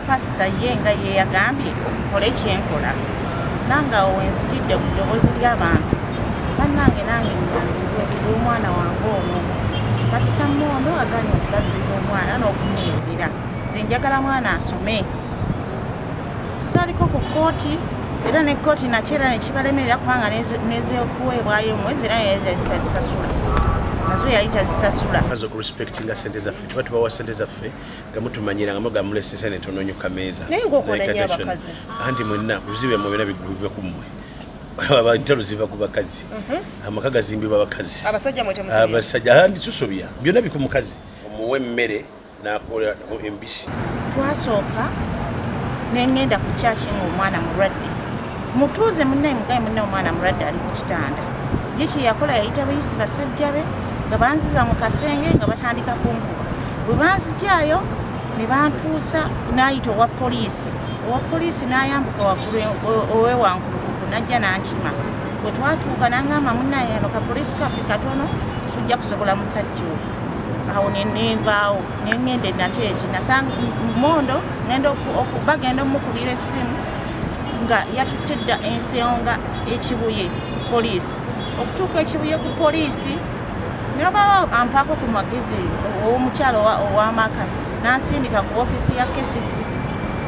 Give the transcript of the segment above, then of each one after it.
pasita ye nga yeyagambye okukole kyenkola nange awo wenzijidde ku ddoboozi ly'abantu bannange nange nyambibwe olw'omwana wange ono pasita moono aganye okulabirira omwana n'okumuyimirira nze njagala mwana asome taliko ku kkooti era ne kkooti nakyo era nekibalemerera kubanga nezokuweebwayo omwezi era nezitazisasula nazo yali tazisasula aza okurespectinga sente zaffe tuba tubawa sente zaffe nga mutumanyira nga muga mulese sente ntononyo kameeza naye ngaokonanya abakazi anti mwenna obuzibu byamwe byona biguve ku mmwe entalo ziva ku bakazi mhm. amaka gazimbibwa abakazi abasajja anti tusobya byona biku mukazi omuwa emmere nakola nabo embisi twasooka nengenda ku kyaki nga omwana mulwadde mutuuze munnaye mugaye munnaye omwana mulwadde ali ku kitanda ye kyeyakola yayita bayisi basajja be nga banziza mu kasenge nga batandika kunkuba bwe banzijaayo ne bantuusa n'ayita owa poliisi owa poliisi n'ayambuka waggulu owewankulukuku najja n'ankima bwe twatuuka nangamba munnaye ano ka poliisi kaffe katono tujja kusobola musajja oyo awo nenevaawo nengenda enateeti nasanga mondo ngenda bagenda omukubira essimu nga yatutte dda ensonga ekibuye ku poliisi okutuuka ekibuye ku poliisi nabawo ampaako ku magezi owomukyalo owamaka nansindika ku ofiisi ya kcc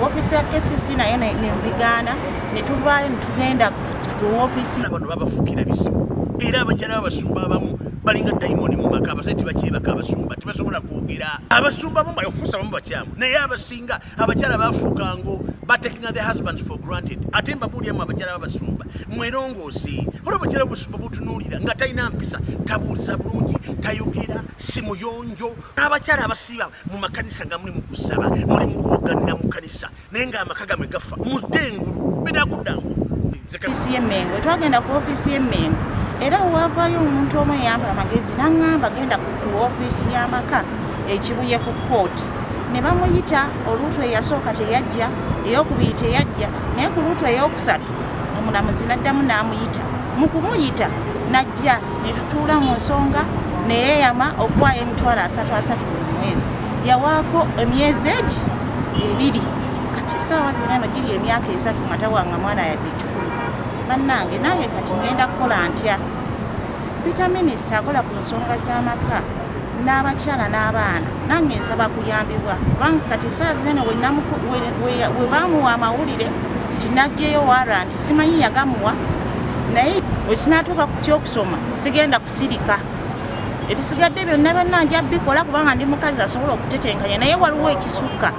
ofiisi ya kcc naye nembigaana netuvaayo netugenda ku ofiisi bano babafukira bizibu era abakyala babasumba abamu balinga dayimoni mu maka abasajja tebakyebaka abasumba tebasobola kwogera abasumba abamu okufuusa abamu bakyamu naye abasinga abakyala bafuukango batekinga the husbands for granted ate mbabuulyamu abakyala babasumba mwerongoosi olwo abakyala obusumba butunuulira nga talina mpisa tabuuliza bulungi tayogera si muyonjo n'abakyala abasiiba mu makanisa nga muli mu kusaba muli mu kuwoganira mu kanisa naye nga amaka gamwe gafa mudde engulu bidakuddangu ofisi y'emmengo twagenda ku ofisi y'emmengo era wewavayo omuntu omu eyamba amagezi naŋŋamba genda ku ofisi y'amaka ekibuye ku kooti ne bamuyita oluutu eyasooka teyajja eyokubiri teyajja naye ku luutu eyokusatu omulamuzi naddamu n'amuyita mu kumuyita najja ne tutuula mu nsonga neyeyama okuwaayo emitwalo asatu asatu buli mwezi yawaako emyezi egi ebiri kati saawa zino eno giri emyaka esatu nga tawanga mwana yadde ekikulu bannange nange kati ngenda kukola ntya pita minisita akola ku nsonga z'amaka n'abakyala n'abaana nange nsaba kuyambibwa kubanga kati saa zino we bamuwa amawulire nti naggyeyo waranti simanyi yagamuwa naye wekinatuuka ku kyokusoma sigenda kusirika ebisigadde byonna banna nja bikola kubanga ndi mukazi asobola okutetenkanya naye waliwo ekisukka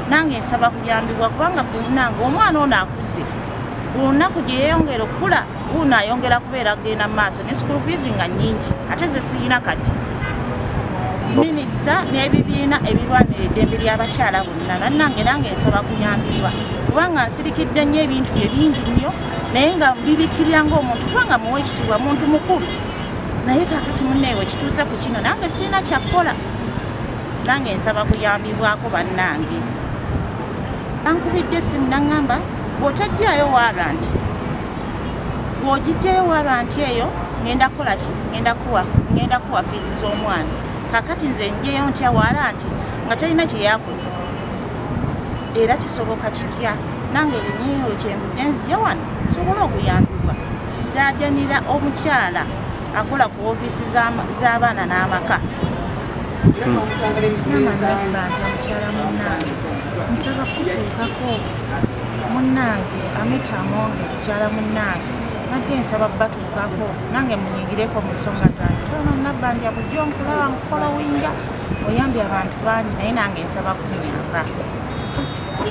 nange nsaba kuyambibwa kubanga kunange omwana ono akuze buli lunaku gye yeyongera okukula uno ayongera kubeera kugenda mu maaso ne school fees nga nyingi ate zesirina kati minisita n'ebibiina ebirwanira eddembe ly'abakyala bonna nannange nange nsaba kuyambirwa kubanga nsirikidde nnyo ebintu bye bingi nnyo naye nga bibikkirira ng'omuntu kubanga muwa ekitiibwa muntu mukulu naye kakati muneewe kituuse ku kino nange sirina kyakkola nange nsaba kuyambibwako bannange ankubidde simu naŋŋamba bw'otajjayo waranti bw'ogijjayo waranti eyo ŋenda kukola ki ŋenda kuwa fiizi z'omwana kakati nze njeyo ntya waranti nga talina kye yakoze era kisoboka kitya nange enyinyo kyenvudde nzija wano nsobole okuyambibwa Ndaajanira omukyala akola ku ofiisi z'abaana n'amaka nsaba kutuukako munnange amita amonge mukyala munnange nadde nsaba batuukako nange munyingireko mu nsonga zange ono nabbanja bujjo nkulaba nkufolowinga oyambye abantu bangi naye nange nsaba kunyamba